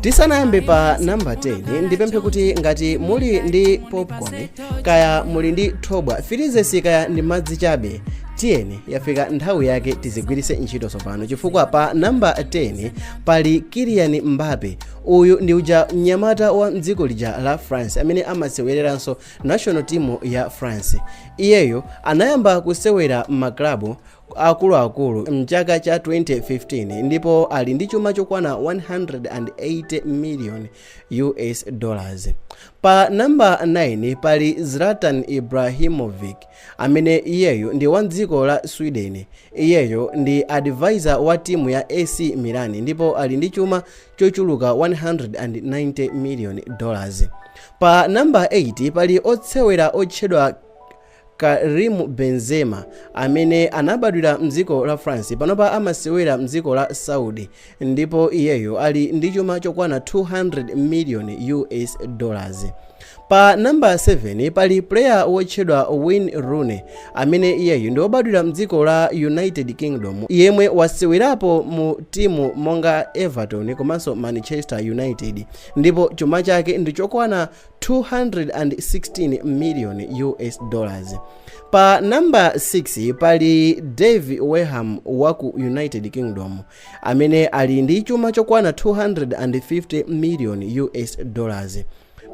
tisanayambe pa namba 10 ndipemphe kuti ngati muli ndi popcorn kaya muli ndi thobwa firizesi kaya ndi madzi chabe tiyeni yafika nthawi yake tizigwiritse ntchito tsopano chifukwa pa namba 10 pali kylian mbappe uyu ndi uja mnyamata wa mdziko lija la france amene amasewereranso national team ya france iyeyo anayamba kusewera m'maklabu akuluakulu mchaka cha 2015 ndipo ali ndi chuma chokwana 180 million us dollars pa namba 9 pali zlatan ibrahimovic amene iyeyo ndi wa mdziko la sweden iyeyo ndi advisor wa timu ya ac milan ndipo ali ndi chuma chochuluka 190 million dollars pa namba 8 pali osewera otchedwa Karim Benzema, amene anabadwira m'dziko la France, panopa amasewera m'dziko la Saudi ndipo iyeyo ali ndi chuma chokwana 200 million US dollars. Pa namba 7 pali player wotchedwa Wayne Rooney amene iyeyo ndi wobadwira m'dziko la United Kingdom yemwe wasewerapo mu timu monga Everton komanso Manchester United ndipo chuma chake ndi chokwana 216 million US dollars. Pa number 6 pali Dave Whelan wa ku United Kingdom amene ali ndi chuma chokwana 250 million US dollars.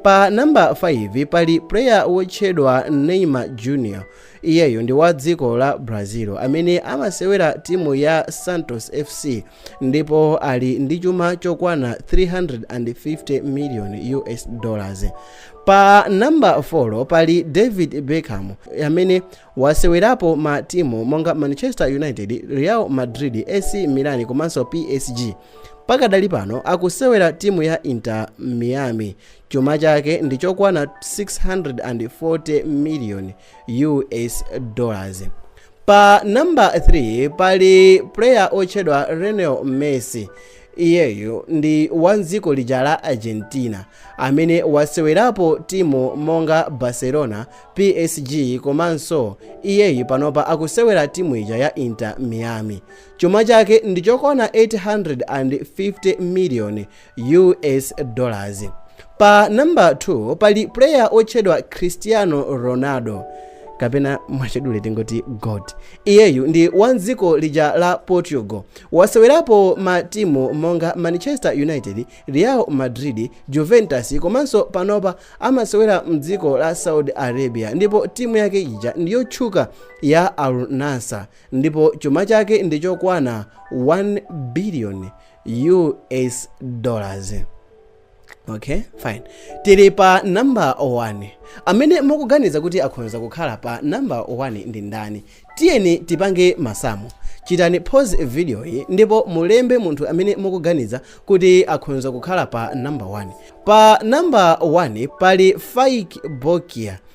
Pa number 5 pali player wotchedwa Neymar Jr. Iyeyo ndi wa dziko la Brazil amene amasewera timu ya Santos FC ndipo ali ndi chuma chokwana 350 million us dollars pa namba 4 pali david beckham amene wasewerapo ma timu monga manchester united real madrid ac milan komanso psg pakadali pano akusewera timu ya inter miami chuma chake ndi chokwana 640 million us dollars pa namba 3 pali player otchedwa lionel messi iyeyu ndi wa mdziko lija la argentina amene wasewerapo timu monga barcelona psg komanso iyeyu panopa akusewera timu ija ya inter miami chuma chake ndi chokwana 850 miliyoni US dollars. Pa number 2 pali player otchedwa Cristiano Ronaldo kapena mwachidule tingoti goat iyeyu ndi wa mdziko lija la portugal wasewerapo matimu monga manchester united real madrid juventus komanso panopa amasewera mdziko la saudi arabia ndipo timu yake ija ndiyotchuka ya al nassr ndipo chuma chake ndichokwana 1 billion us dollars okay fine tili pa namba 1 amene mukuganiza kuti akhonza kukhala pa namba 1 ndi ndani tiyeni tipange masamu chitani pause video iyi ndipo mulembe munthu amene mukuganiza kuti akhonza kukhala pa namba 1 pa namba 1 pali faik bolkiah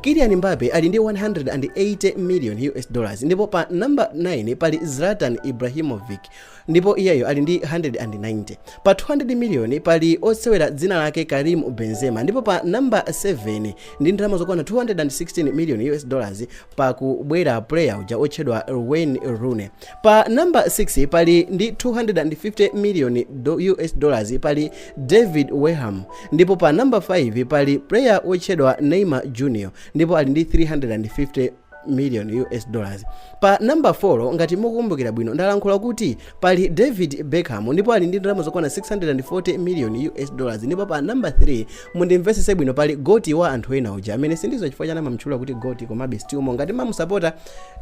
Kylian Mbappe ali ndi 180 million US dollars ndipo pa number 9 pali Zlatan Ibrahimovic ndipo iyeyo ali ndi 190. Pa 200 million pali osewera dzina lake Karim Benzema ndipo pa number 7 ndi ndalama zokwana 216 million US dollars pakubwera player uja otchedwa Wayne Rooney. Pa number 6 pali ndi 250 million US dollars pali David Weham ndipo pa number 5 pali player wotchedwa Neymar Jr ndipo ali ndi 350 million US dollars. Pa number 4 ngati mukukumbukira bwino ndalankhula kuti pali David Beckham ndipo ali ndi ndalama zokwana 640 million US dollars ndipo pa number 3 mundimvesese bwino pali goti wa anthu ena uja amene sindidziwa chifukwa chani amamtchula kuti goti komabe still mo ngati mamusapota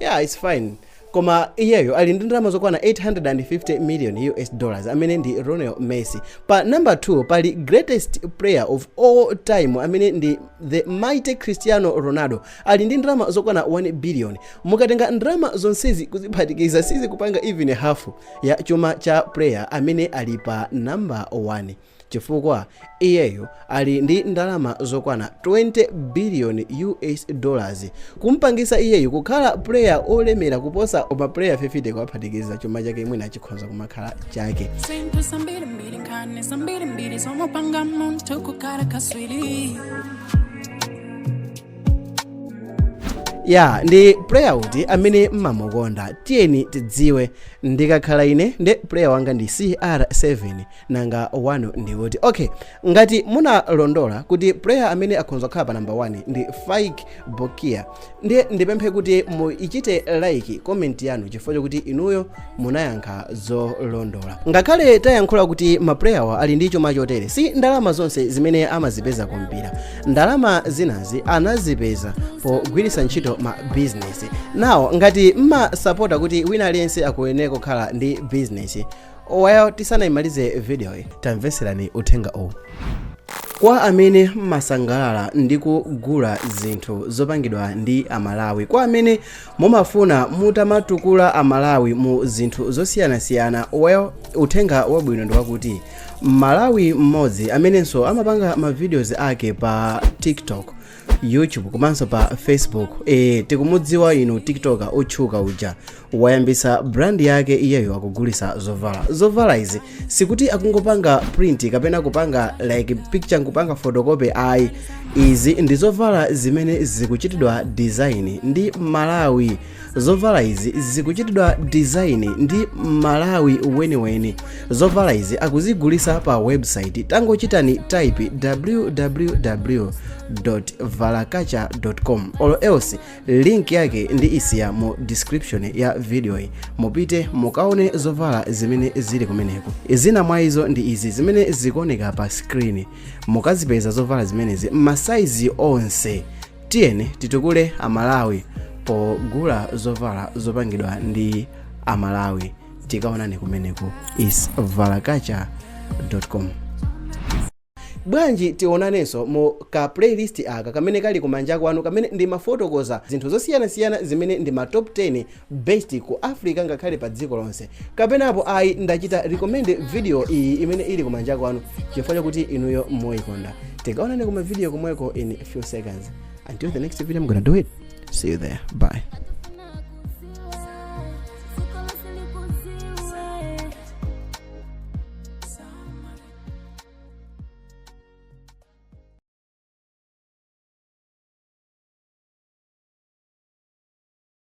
yeah it's fine Koma iyeyo ali ndi ndalama zokwana 850 million US dollars amene ndi Ronel Messi. Pa number 2 pali greatest player of all time amene ndi the mighty Cristiano Ronaldo ali ndi ndalama zokwana 1 billion. Mukatenga ndalama zonsezi kuziphatikiza sizikupanga even half ya chuma cha player amene ali pa number 1. chifukwa iyeyo ali ndi ndalama zokwana 20 billion US dollars kumpangisa iyeyu kukhala player olemera kuposa ma player 50 kuwaphatikiza chuma chake mwina chikhonza kumakhala chake ya ndi player uti amene mmamukonda tiyeni tidziwe ndikakhala ine nde player wanga ndi cr7 nanga wanu ndi uti okay ngati munalondola kuti player amene akhonza kukhala pa namba 1 ndi faik bolkiah ndiye ndipemphe kuti muichite like comment yanu chifukwa chakuti inuyo munayankha zolondola ngakhale tayankhula kuti maplayawa ali ndi chuma chotere si ndalama zonse zimene amazipeza ku mpira ndalama zinazi anazipeza pogwiritsa ntchito ma business now ngati mmasapota kuti wina aliyense akuyenera kukhala ndi business owayawo tisanaimalize vidiyoyi tamvetserani uthenga uwu kwa amene mmasangalala ndi kugula zinthu zopangidwa ndi amalawi kwa amene mumafuna mutamatukula amalawi mu zinthu zosiyanasiyana well uthenga wabwino ndi wakuti mmalawi mmodzi amenenso amapanga mavideos ake pa tiktok youtube komanso pa facebook e, tikumudziwa inu tiktoka otchuka uja wayambisa brand yake iyeyo akugulitsa zovala zovala izi sikuti akungopanga print kapena kupanga like picture kupanga photocopy ayi izi ndi zovala zimene zikuchitidwa design ndi mmalawi zovala izi zikuchitidwa design ndi mmalawi weniweni zovala izi akuzigulisa pa website tangochitani type www valakacha com or else link yake ndiisiya mu description ya videoyi mupite mukaone zovala zimene zili kumeneko zina mwa izo ndi izi zimene zikuoneka pa screen mukazipeza zovala zimenezi masaizi onse tiyeni titukule amalawi pogula zovala zopangidwa ndi amalawi tikaonane kumeneko is valakacha com bwanji tionanenso mu ka playlist aka kamene kali kumanja kwanu kamene ndimafotokoza zinthu zosiyanasiyana zimene ndi ma top 10 best ku africa ngakhale pa dziko lonse kapena apo ayi ndachita recommend video iyi imene ili kumanja kwanu chifukwa chakuti inuyo muyikonda tikaonane kuma video komweko in a few seconds until the next video i'm gonna do it see you there bye